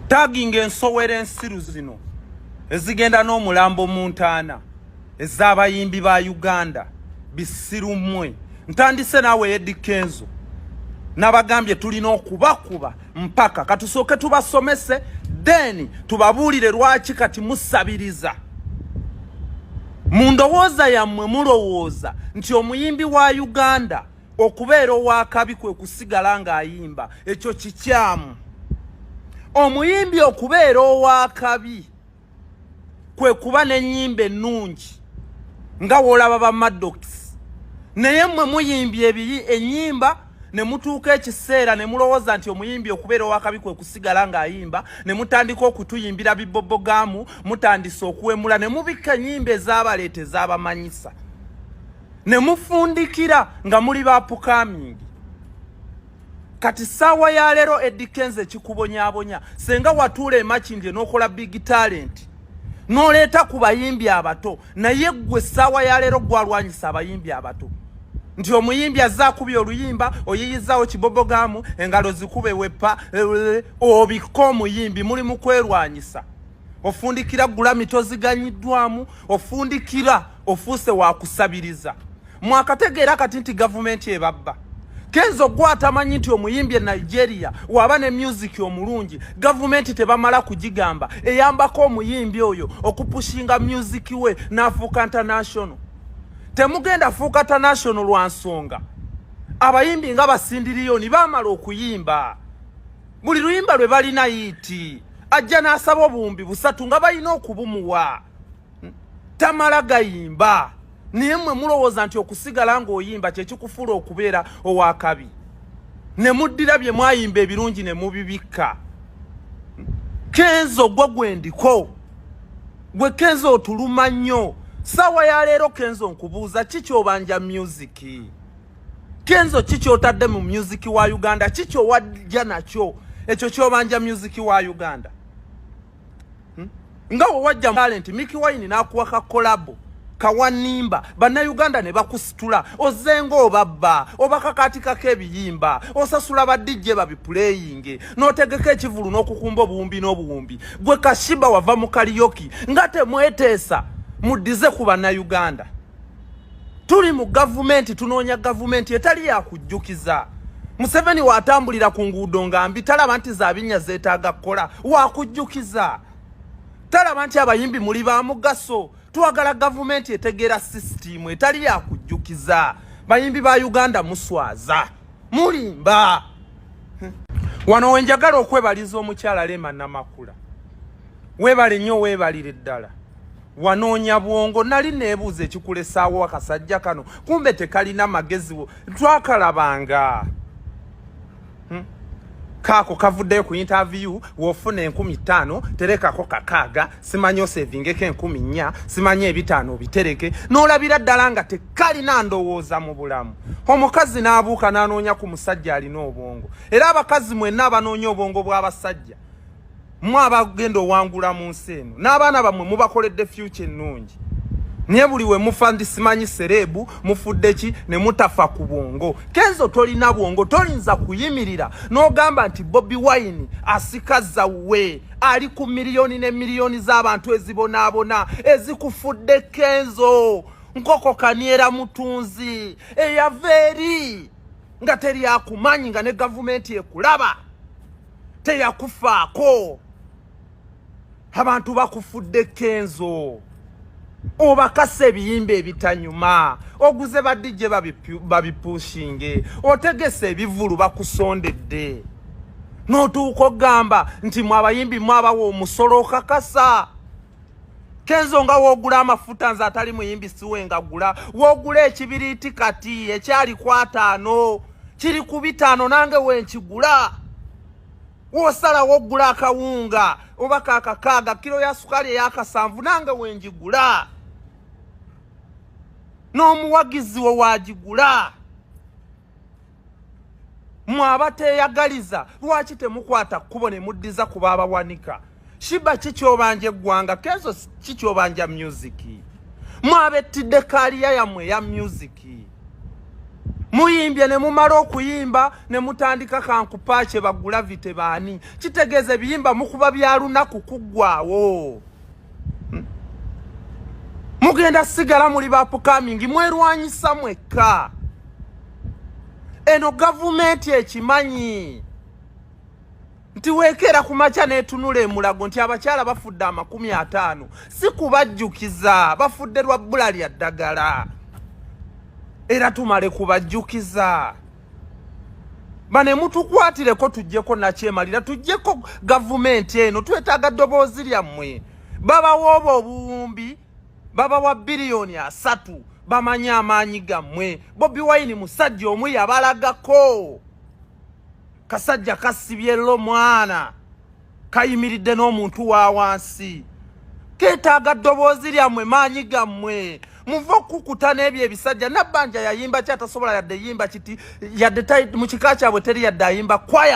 tagging ensowera ensiru zino ezigenda n'omulambo mu ntaana ez'abayimbi ba uganda bisiru mmwe ntandise naawe edi kenzo nabagambye tulina okubakuba mpaka katusooke tubasomese then tubabuulire lwaki kati musabiriza mu ndowooza yammwe mulowooza nti omuyimbi wa uganda okubeera owakabi kwe kusigala ng'ayimba ekyo kikyamu omuyimbi okubeera owakabi kwe kuba n'ennyimba ennungi nga woolaba ba madokisi naye mmwe muyimbye ebiri ennyimba ne mutuuka ekiseera ne mulowooza nti omuyimbi okubeera owakabi kwe kusigala ng'ayimba ne mutandika okutuyimbira bibobogamu mutandise okuwemula ne mubikka ennyimba ezabaleeta ezabamanyisa ne mufundikira nga muli ba pukamingi kati saawa ya leero Eddy Kenzo ekikubonyabonya senga watuula emakindye n'okola big talent n'oleeta ku bayimbi abato naye ggwe saawa ya leero gwalwanyisa abayimbi abato nti omuyimbi azze akubye oluyimba oyiyizaawo kibobogamu engalo zikube wepa eh, eh, obikka omuyimbi muli mu kwerwanyisa ofundikira gulami toziganyiddwamu ofundikira ofuuse wakusabiriza mwakategeera kati nti gavumenti ebabba kenzo gwa atamanyi nti omuyimbi e nigeria waba ne myuziki omulungi gavumenti tebamala kugigamba eyambako omuyimbi oyo okupushinga myuziki we n'afuuka international temugenda fuuka international lwa nsonga abayimbi nga basindiriyoni bamala okuyimba buli luyimba lwe balina yiiti ajja n'asaba obuwumbi busatu nga balina okubumuwa tamala gayimba naye mwe mulowooza nti okusigala ng'oyimba kyekikufuula okubeera owakabi ne muddira bye mwayimba ebirungi ne mubibikka kenzo gwe gwendiko gwe kenzo otuluma nnyo saawa ya leero kenzo nkubuuza ki kyobanja myuziki Kenzo kiki otadde mu music wa Uganda kiki owajja nakyo ekyo kyobanja music wa Uganda hmm? nga wewajja talent Mickey Wine nakuwa ka collab kawanimba bannayuganda ne bakusitula ozenga obabba obakakatikako ebiyimba osasula badijje babipuleyinge n'otegeka ekivulu n'okukumba obuwumbi n'obuwumbi gwe kashiba wava mu kaliyoki nga temweteesa muddize ku bannayuganda tuli mu gavumenti tunoonya gavumenti etali yakujjukiza museveni watambulira ku nguudo nga mbi talaba nti zabinnya zeetaaga kukola wakujjukiza talaba nti abayimbi muli ba mugaso twagala gavumenti etegeera sisitiimu etali yakujjukiza bayimbi ba uganda muswaza mulimba wano wenjagala okwebaliza omukyala lema namakula webale nnyo webalire ddala wanoonya bwongo nali neebuuza ekikulesaawo akasajja kano kumbe tekalina mageziwo twakalabanga hmm? kaako kavuddeyo ku interview wofuna enkumi ttaano terekako kakaaga simanyi osevingeko enkumi nnya simanyi ebitaano obitereke n'olabira ddala nga tekalina ndowooza mu bulamu omukazi n'abuuka n'anoonya ku musajja alina obwongo era abakazi mwenna abanoonya obwongo bw'abasajja mwe abagenda owangula mu nsi eno n'abaana bammwe mubakoledde fyuca ennungi naye buli we mufa ndi simanyi sereebu mufudde ki ne mutafa ku bwongo kenzo tolina bwongo toyinza kuyimirira n'ogamba nti bobi wine asikaza we ali ku miliyoni ne miliyoni z'abantu ezibonaabona ezikufudde kenzo nkoko kaniera mutunzi eyava eri nga teri akumanyi nga ne gavumenti ekulaba teyakufaako abantu bakufudde kenzo obakasa ebiyimba ebitanyuma oguze badijje babipushinge otegese ebivulu bakusondedde notuuka ogamba nti mwabayimbi mwabawa omusolo okakasa kenzo nga wogula amafuta nze atali muyimbi siwe nga gula wogula ekibiriiti kati ekyali kwataano kiri ku bitaano nange wenkigula wosalawo ogula akawunga oba kakakaaga kiro ya sukaali eyakasanvu nange wengigula n'omuwagizi wo wagigula mwaba teyagaliza lwaki temukwata kkubo ne muddiza ku baabawanika shiba kikyobanja eggwanga kenzo kikyobanja myuziki mwabettidde kaaliya yammwe eya myuziki muyimbye ne mumala okuyimba ne mutandika kankupaakye bagulavite baani kitegeeza ebiyimba mukuba bya lunaku kuggwawo hmm. mugenda sigala muli bapukamingi mwerwanyisa mwekka eno gavumenti ekimanyi nti weekeera ku makya n'etunula emulago nti abakyala bafudde amakumi ataano si kubajjukiza bafudde lwa bbula lya ddagala era tumale kubajjukiza bane mutukwatireko tujjeko nakyemalira tujjeko gavumenti eno twetaaga ddoboozi lyammwe babawa obwo obuwumbi baba wa biliyoni asatu bamanyi amaanyi gammwe bobi wayini musajja omu yabalagako kasajja kasibye lo mwana kayimiridde n'omuntu wa wansi keetaaga ddoboozi lyammwe maanyi gammwe muve okukuta n'ebyo ebisajja nabbanja yayimba ki atasobola yadde yimba kiti yadde mu kika kyabwe teri yadde ayimba kwaya